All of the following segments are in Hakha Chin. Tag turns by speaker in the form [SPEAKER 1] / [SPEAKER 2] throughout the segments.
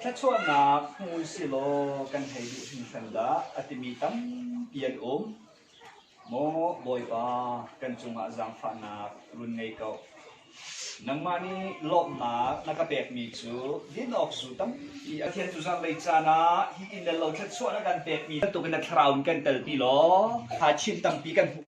[SPEAKER 1] Thlachuahnak hmui sihlaw kan hei duh hringhran dah a timi tampi an um. Maw Bawipa, kan cungah zaangfahnak run ngei ko. Nangmah nih lawmhnak na ka pekmi cu din awk zu tampi a thiantu zanlei caan ah hi in le lo thluachuah na kan pekmi bantukin na thlarau in kan telpi law kha chin tampi kan hmuh.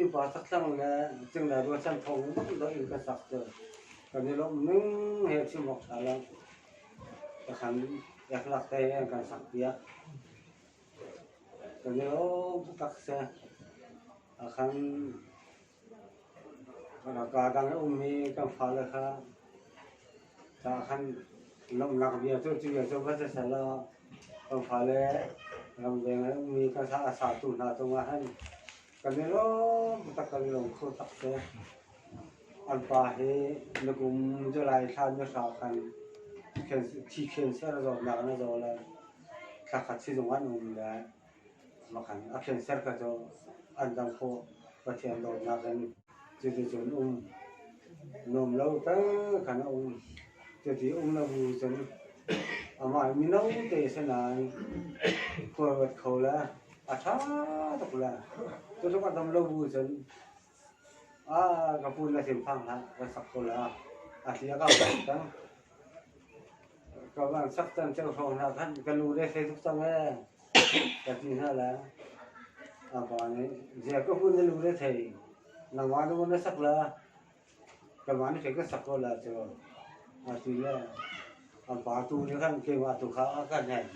[SPEAKER 1] Innpa thakthlang le cingla rualchan thawng dongdong in ka sak cu kan i lawmh ning he chim awk ṭha lo. Ka san ek lak te in kan sak piak. Kan i lawm taktak seh. Akhan rak aa dang i um hi kan fale kha Kan lawmhnak bia cu cu bia cu va si sehlaw kan fale ramveng ah ummi kan sa a satu hna cungah hin kan i lawm taktak kan i lawm kho tak te. An pa hi na kum July thla ni hra khan thi khen ser zawtnak in a zaw le thla khat sizung ah an um ve. a hrinsor kha cu an dang khawh Pathian dawtnak in cuticun um nuam lo tal khan a um cuti um lo bu cun amah mino te si nain khuaruat kho le a ṭha tuk le cutluk a dam lo bu cun Ka pun le thinphang hlah, ka sak ko la, a hlia ka van sak cang. Ka van sak cang ceu hrawng hna khan ka lu le hlei tuk cang ee, ka ti hna la. A pa nih, "Zia ka pun na lu le thei, nangmah lu na sak la, ka van hlei ka sak ko la cu." A ti le a pa tu nih khan keimah tu kha a kan hen.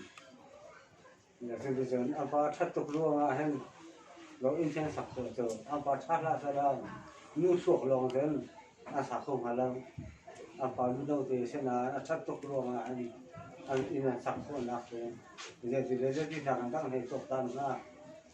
[SPEAKER 1] Television a pa ṭhat tuk ruangah hin lo inn hin a sak sawh cu. A pa ṭha hlah sehla nu suak lawng hin a sa kho hnga lo. A pa mino te sinah a ṭhat tuk ruangah hin an inn an sak khawhnak cu zeiti le zeitinak in dah an hei tuaktan hnga.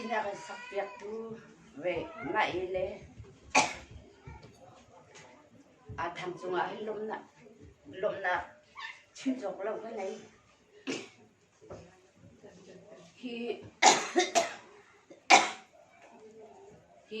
[SPEAKER 1] Inn a kan sakpiaktu Naih le aa thang cungah hin lawmhnak chim cawk lo ka nei. Hi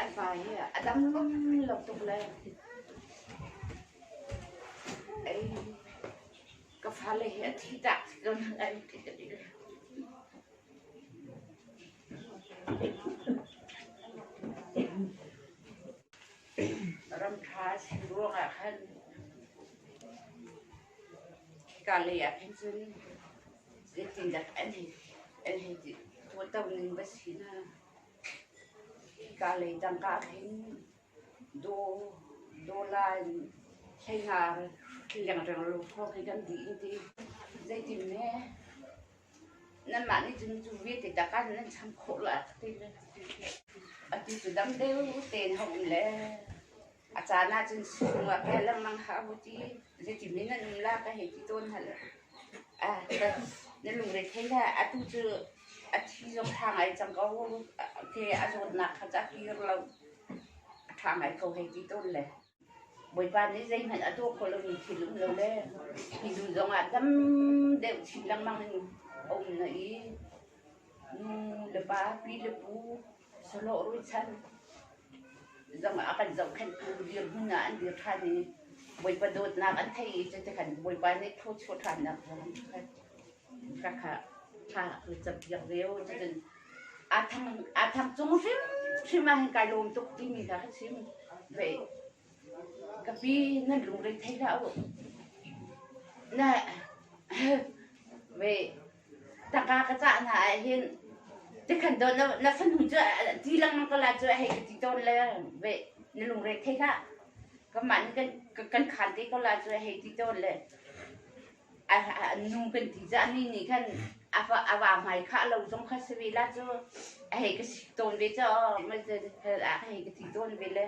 [SPEAKER 1] An pa hi a dam lo tuk lai. Ka fale hi a thihtak tlun an ti ka ti. Ramṭha a si ruangah khan hika lei ah khin cun zeitindah an hei an hei ti hmuhto ning va si na. Hika lei tangka a khin. Dollar in hlengar lengreng lo hrawng hi kan dih an ti. Zeitin ne? Nanmah nih cun cu vialte tangka cu nan cham khawh la? a ti cu dam deuh tein a hung le. A caan ahcun chungah ka lengmang hlah u ti. Zeitin in an um la ka hei ti tawn hal. Ah, na lungre thei hlah. Atu cu a thi zong ṭha ngai cang ko. Ke a zawtnak kha ca kir lo a ṭha ngai ko hei ti tawn le. Bawipa nih zeihmanh a tuah kho lomi thil um lo le mizu zongah tam deuh chin lengmang in a um na i nu le pa, pi le pu, Zong ah a kan zohkhenhtu dirhmun ah an dir ṭhan i Bawipa dawtnak an theih i cuti khan Bawipa nih phu chuah ṭhannak zong ka kha thla ka campiak ve u. Cutin aa thang aa thang cung hrimhrim ah hin kai lawm tuk timi kha ka chim ve. Kapi nan rungreng thei hlah uh. Tangka ka cah hna ahhin tikhan dawt na fanu cu ti lengmang ko lai cu hei ka ti tawn le na lungreng thei hlah. Kanmah nih kan khan te ko lai cu hei ti tawn le. a nung kan ti cah ni nih khan a fa a va hmai khah lo zong kha si ve la cu a hei ka si tawn ve caw mai te a hei ka ti tawn ve le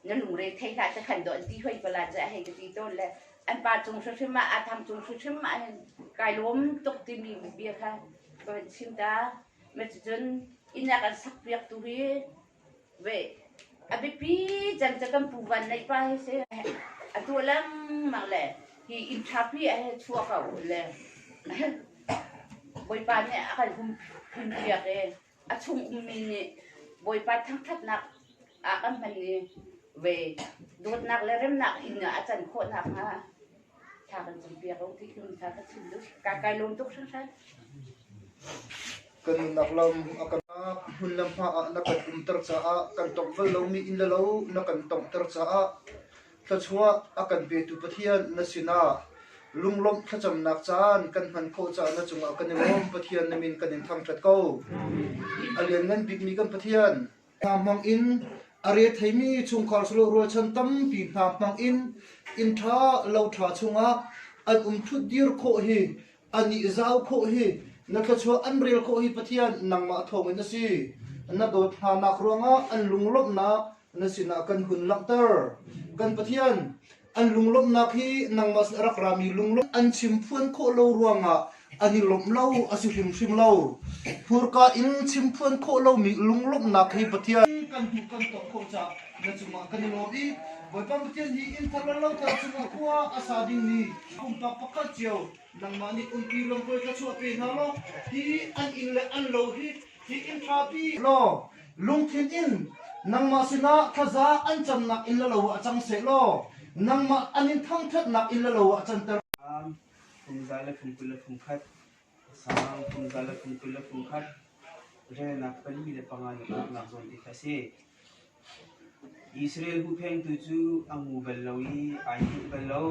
[SPEAKER 1] na lungre thei hlah ca khan do an ti hoi pala ca a hei ka ti tawn le an pa cung hrim ah a tham cung hrim ah hin kai lawm tuk timi bia kha ka van chim ta ma cucun inn ah kan sak piak tu hi A biapi cem cu kan pu Van Neih pa hi a si. A tuah lengmang le hi interview ah hin a chuah ko le Bawipa nih a kan hun piak i a chung ummi nih Bawipa thangthatnak ah kan hman i dawtnak le remnak inn ah a can khawh nakhnga Thla kan cam piak lo ti cun thla ka chim duh. Ka kai lawm tuk hringhran. Kan nunnak lam a kan hmun le hma ah na kan umter caah kan tongh bal lomi in le lo na kan tonghter caah thluachuah a kan petu Pathian na sinah lunglawmh thlacamnak caan kan hman khawh caah na cungah kan i lawm. Pathian na min kan in thangṭhat ko. A lian ngan bikmi kan Pathian, hna hmang in a re theimi chungkhar silo rualchan tampi hna hmang in inn ṭha lo ṭha chungah an um ṭhutdir khawh hi a nih zau khawh hi na thluachuah an rel khawh hi Pathian nangmah thawngin a si. Na dawt hnanak ruangah an lunglawmhnak na sinah kan hun langhter. Kan Pathian An lunglawmhnak hi nangmah rak rami lunglawmh an chim phuan khawh lo ruangah an i lawmh lo a si hrimhrim lo. Hmurka in chim phuan khawh lomi lunglawmhnak hi Pathian kan hmuh kan tuah khawh caah na cungah kan i lawm i Bawipa Pathian hi inn thar le loter cungah khua a sa dingmi pumpak pakhat cio nangmah nih umpi lampuai kha chuah pe hna law hi an inn le an lo hi hi inn ṭhapi law Lungthin in nangmah sinah thaza an camnak in lalo ah cang seh law nangmah an in thangthatnak in lalo ah canter. Phungzai le phungkul le phungkhat sang phungzai le phungkul le phungkhat renak pali le panga na peknak zawn ti kha si Israel hu phengtu cu a ngu bal lo i ai hmuh bal lo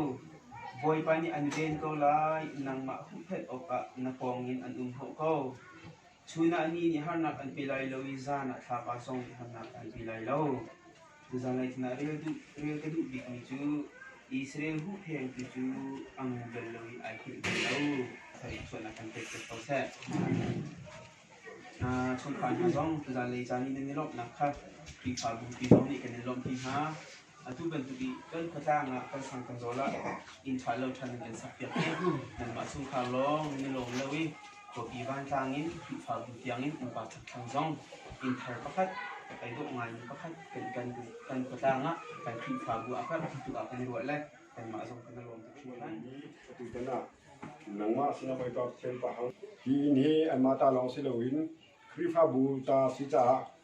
[SPEAKER 1] bawipa nih an ven ko lai nangmah huhphenh awkah na pawngin an um hau ko Chun ah ni nih harnak an pe lai lo i zan ah thla pa zong nih harnak an pe lai lo. Zanlei thlan ah rel, duh, rel ka duh bikmi cu Israel huhpheng tu cu a ngun bel lo i ai hngilh bal lo. Thlarif sualnak kan pek tet ko seh. Uh, chungkhar hna zong zanlei caan i nan i lawmhnak kha Khrihfabu pi zong nih kan in lawmh pi hna. Atu bantuk i kan khuatlang ah kan sang kan zawl ah inn ṭha lo ṭhan in kan sakpiak i nanmah chungkhar lawng ni lawm lo i khuapi vantlang in Khrihfabu tiangin innpa ṭhakthlang zong inn thar pakhat ai dawh ngaimi pakhat kan kan kan khuatlang ah kan Khrihfabu a karh tuk ah kan i ruah le kanmah zong kan i lawm tuk hringhran. Atutan ah nangmah sinah Bawipa Pathian pahang hi inn hi anmah ta lawng si loin Khrihfabu ta si caah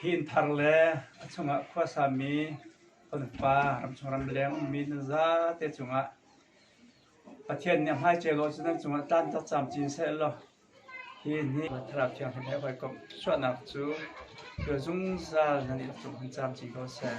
[SPEAKER 1] Hi inn thar le a chungah khuasami fanfa ramchung ramleng ummi nan zate cungah Pathian nih a hmaichia law cu nan cungah tlan cak cam cin sehlaw hi inn hi Thlarau Thianghlim he hawikomh chuahnak cu khual zungzal nan i rak tlung hman cam cin ko seh.